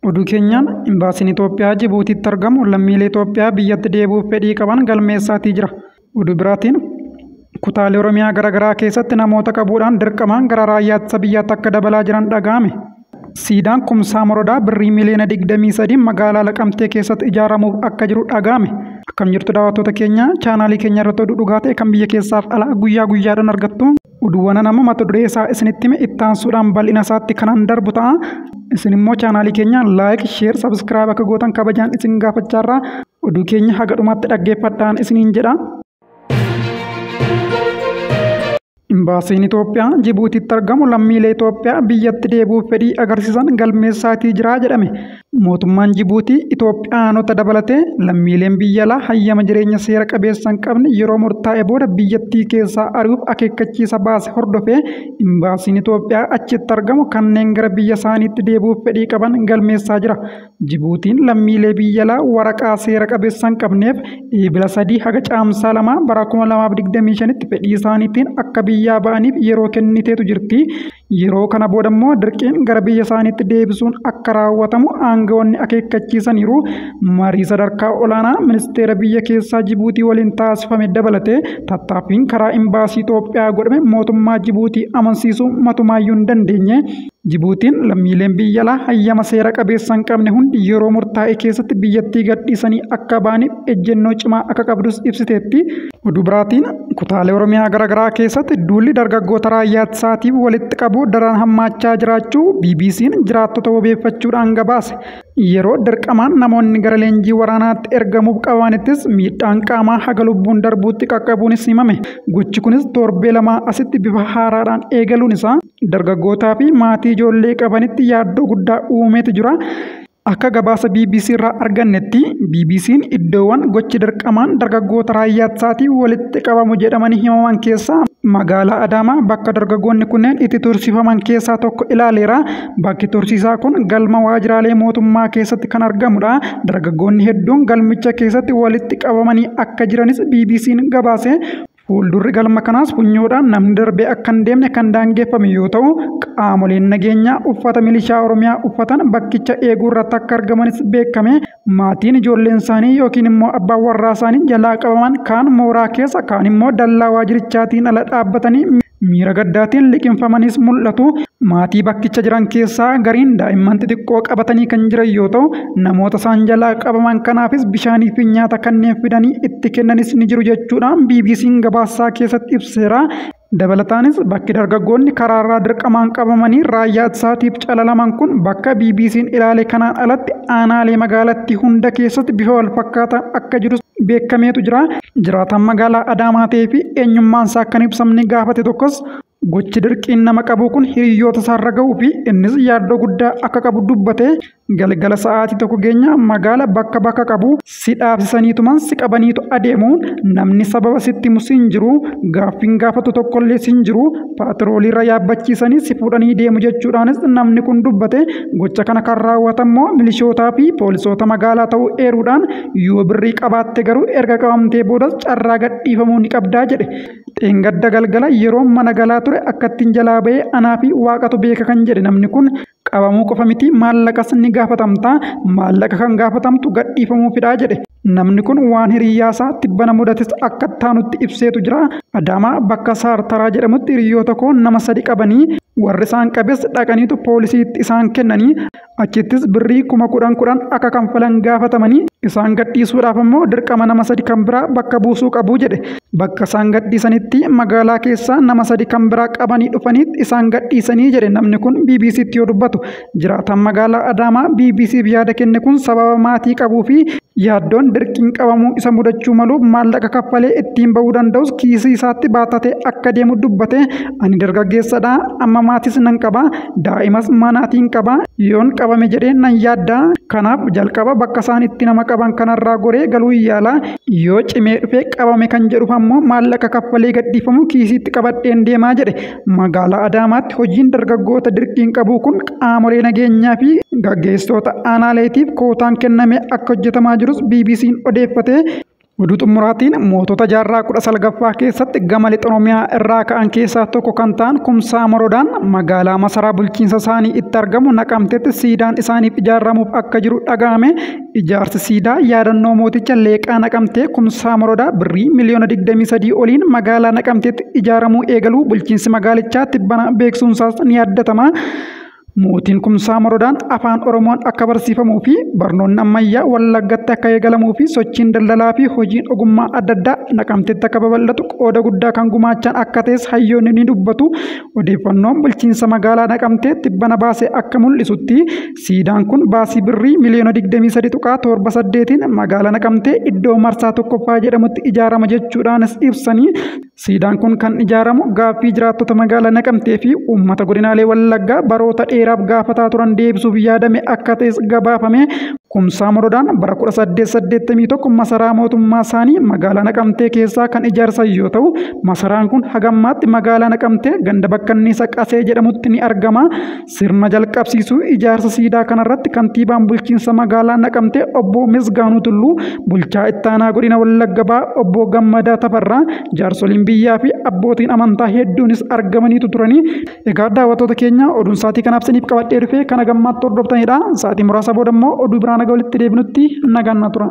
Oduu keenyaan Imbaasiin Itoophiyaa Jibuutiitti argamu lammiilee Itoophiyaa biyyatti deebi'uuf fedhii qaban galmeessaatii jira. Oduu biraatiin kutaalee Oromiyaa garaagaraa keessatti namoota qabuudhaan dirqamaan gara raayyaa ittisa biyyaatti akka dabalaa jiran dhaga'ame. Siidaan Kumsaa Morodaa birrii miliyoona 23 magaalaa Laqamtee keessatti ijaaramuuf akka jiru dhaga'ame. Akkam jirtu daawwattoota keenya chaanaalii keenya irratti oduu dhugaa ta'e kan biyya keessaaf alaa guyyaa guyyaadhaan argattu. Oduuwwanan amma mata duree isaa isinitti hime itti aansuudhaan bal'ina isaatti kanan darbu ta'a. Isin immoo chaanaalii keenya laayik, sheer, sabiskiraayib akka gootan kabajaan isin gaafachaarra oduu keenya haga dhumaatti dhaggeeffadhaan isiniin jedha. Imbaasiin Itoophiyaa Jibuutiitti argamu lammiilee Itoophiyaa biyyatti deebi'uuf fedhii agarsiisan galmeessaatii jira jedhame. Mootummaan Jibuutii Itoophiyaanota dabalatee lammiileen biyya alaa hayyama jireenya seera qabeessa hin qabne yeroo murtaa'e booda biyyattii keessaa ari'uuf akeekkachiisa baase hordofee imbaasiin Itoophiyaa achitti argamu kanneen gara biyya isaaniitti deebi'uuf fedhii qaban galmeessaa jira. Jibuutiin lammiilee biyya alaa waraqaa seera qabeessa hin qabneef Eebila 3 haga Caamsaa 2 bara 2025tti fedhii isaaniitiin akka biyyaa ba'aniif yeroo kenniteetu jirti. Yeroo kana booda immoo dirqiin gara biyya isaaniitti deebisuun akka raawwatamu aangawoonni akeekkachiisaniiru. Marii sadarkaa olaanaa ministeera biyya keessaa Jibuutii waliin taasifame dabalatee tattaaffiin karaa imbaasii Itoophiyaa godhame mootummaa Jibuutii amansiisuu matumaayyuu hin dandeenye. Jibuutiin lammiileen biyya alaa hayyama seera qabeessa hin qabne hundi yeroo murtaa'e keessatti biyyattii gadhiisanii akka ba'aniif ejjennoo cimaa akka qabdus ibsiteetti. Oduu biraatiin kutaalee Oromiyaa garaagaraa keessatti duulli dargaggoota raayyaa ittisaatii walitti qabu daran hammaachaa jiraachuu BBC'n jiraattota wabeeffachuudhaan gabaase. Yeroo dirqamaan namoonni gara leenjii waraanaatti ergamuuf qabamanittis miidhaan qaamaa haga lubbuun darbuutti qaqqabuunis himame. Gochi kunis torbee lamaa asitti bifa haaraadhaan eegaluun isaa dargaggootaa fi maatii ijoollee qabanitti yaaddoo guddaa uumeeti jira. Akka gabaasa bbc irraa argannetti BBC'n iddoowwan gochi dirqamaan dargaggoota raayyaa ittisaatiin walitti qabamu jedhamanii himaman keessaa magaalaa Adaamaa bakka dargaggoonni kunneen itti tursiifaman keessaa tokko ilaaleera. Bakki tursiisaa kun galma waajjiraalee mootummaa keessatti kan argamudha. Dargaggoonni hedduun galmicha keessatti walitti qabamanii akka jiranis BBC'n gabaase. Fuuldurri galma kanaas funyoodhaan namni darbee akka hin deemne kan daangeffame yoo ta'u, qaamoleen nageenyaa uffata milishaa Oromiyaa uffatan bakkicha eeguu irratti akka argamanis beekame. Maatiin ijoolleen isaanii yookiin immoo abbaan warraa isaanii jalaa qabaman kaan mooraa keessa kaan immoo dallaa waajirichaatiin ala dhaabbatanii Miira gaddaatiin liqimfamanis mul'atu. Maatii bakkicha jiran keessaa gariin daa'imman xixiqqoo qabatanii kan jiran yoo ta'u, namoota isaan jalaa qabaman kanaafis bishaanii fi nyaata kanneen fidanii itti kennanis ni jiru jechuudhaan BBC'n gabaasaa keessatti ibseera. Dabalataanis bakki dargaggoonni karaarraa dirqamaan qabamanii raayyaa ittisaatiif calalaman kun bakka BBC'n ilaale kanaan alatti aanaalee magaalattii hunda keessatti bifa walfakkaataan akka jirus beekameetu jira. Jiraataan magaalaa Adaamaa ta'ee fi eenyummaan isaa akka hin ibsamne gaafate tokkos gochi dirqiin nama qabuu kun hiriyoota isaarra ga'uu fi innis yaaddoo guddaa akka qabu dubbate galgala sa'aatii tokko geenya magaala bakka bakka qabu si dhaabsisaniituman si qabaniitu adeemu namni sababa sitti himu siin jiru gaaffiin gaafatu tokkollee siin jiru paatirooliirra yaabbachiisanii si fuudhanii deemu jechuudhaanis namni kun dubbate gocha kana kan raawwatan immoo milishootaa fi poolisoota magaalaa ta'uu eeruudhaan Yoo birrii qabaatte garuu erga qabamtee boodas carraa gadhiifamuu ni qabdaa jedhe. Dheengadda galgala yeroo mana galaa ture akkattiin jalaa ba'ee anaa fi waaqatu beeka kan jedhe namni kun qabamuu qofa miti maallaqas ni gaafatamta maallaqa kan gaafatamtu gadhiifamuufidha jedhe. Namni kun waan hiriyyaasaa tibbana mudates akka taanutti ibseetu jira. Adaamaa bakka Saartaraa jedhamutti hiriyyoota koo nama sadi qabanii warri isaan qabes dhaqaniitu poolisiitti isaan kennanii Achittis birrii kuma kudhan kudhan akka kanfalan gaafatamanii isaan gadhiisuudhaaf ammoo dirqama nama sadi kan biraa bakka buusuu qabu jedhe. Bakka isaan gadhiisanitti magaalaa keessaa nama sadi kan biraa qabanii dhufaniit isaan gadhiisanii jedhe namni kun BBC'tti yoo dubbatu. Jiraataan magaalaa Adaamaa BBC'f yaada kenne kun sababa maatii qabuu fi yaaddoon dirqiin qabamuu isa mudachuu maluuf maallaqa kaffalee ittiin bahuu danda'us kiisii isaatti baatatee akka deemu dubbate. Ani dargaggeessadha, amma maatis nan qaba. Daa'imas manaatiin qaba. Yoon qabame jedhee nan yaadda. Kanaaf jalqaba bakka isaan itti nama qaban kanarraa goree galuu yaala. Yoo cimee dhufee qabame kan jedhuuf ammoo maallaqa kaffalee gadhiifamu kiisiitti qabadheen deemaa jedhe. Magaalaa Adaamaatti hojiin dargaggoota dirqiin qabuu kun qaamolee nageenyaa fi gaggeessitoota aanaaleetiif kootaan kennamee akka hojjetamaa jirus BBC'n odeeffatee Oduu xumuraatiin mootota jaarraa kudha salgaffaa keessatti gama lixa Oromiyaa irraa ka'an keessaa tokko kan ta'an Kumsaa Moroodaan magaalaa masaraa bulchiinsa isaanii itti argamu naqamtetti siidaan isaaniif ijaaramuuf akka jiru dhaga'ame ijaarsi siidaa yaadannoo mooticha leeqaa naqamtee Kumsaa Moroodaa birrii miliyoona 23 oliin magaalaa naqamteetti ijaaramuu eegaluu bulchiinsi magaalichaa tibbana beeksisuunsaas ni yaadatama. Mootiin Kumsaa Morodaan Afaan Oromoon akka barsiifamuu fi barnoonni ammayyaa Wallaggatti akka eegalamuu fi sochiin daldalaa fi hojiin ogummaa adda addaa Naqamtetti akka babal'atu qooda guddaa kan gumaachan akka ta'es hayyoonni ni dubbatu. Odeeffannoon bulchiinsa magaalaa Naqamtee tibbana baase akka mul'isutti siidaan kun baasii birrii miliyoona 23.78tiin magaalaa Naqamtee iddoo marsaa tokkoffaa jedhamutti ijaarama jechuudhaanis ibsanii Siidaan kun kan ijaaramu gaaffii jiraattota magaalaa Naqamtee fi uummata godinaalee Wallaggaa baroota dheeraaf gaafataa turan deebisuuf yaadame akka ta'es gabaafame. Kumsaa Morodaan bara 1881 masaraa mootummaa isaanii magaalaa Naqamtee keessaa kan ijaarsan yoo ta'u, masaraan kun hagammaatti magaalaa Naqamtee ganda bakkanniisa Qasee jedhamutti ni argama. Sirna jalqabsiisuu ijaarsa siidaa kanarratti kantiibaan bulchiinsa magaalaa Naqamtee obbo Misgaanuu Tulluu, bulchaa ittaanaa godina Wallagga Bahaa obbo Gammadaa Tafarraa, jaarsoliin biyyaa fi abbootiin amantaa hedduunis argamaniitu turanii. Egaa daawwattoota keenya oduun sa'aatii kanaaf isiniif qabadhee dhufe kana gammaatti hordoftanidha. Sa'aatii muraasa booda immoo oduu biraa naga walitti deebinutti nagaan na tura.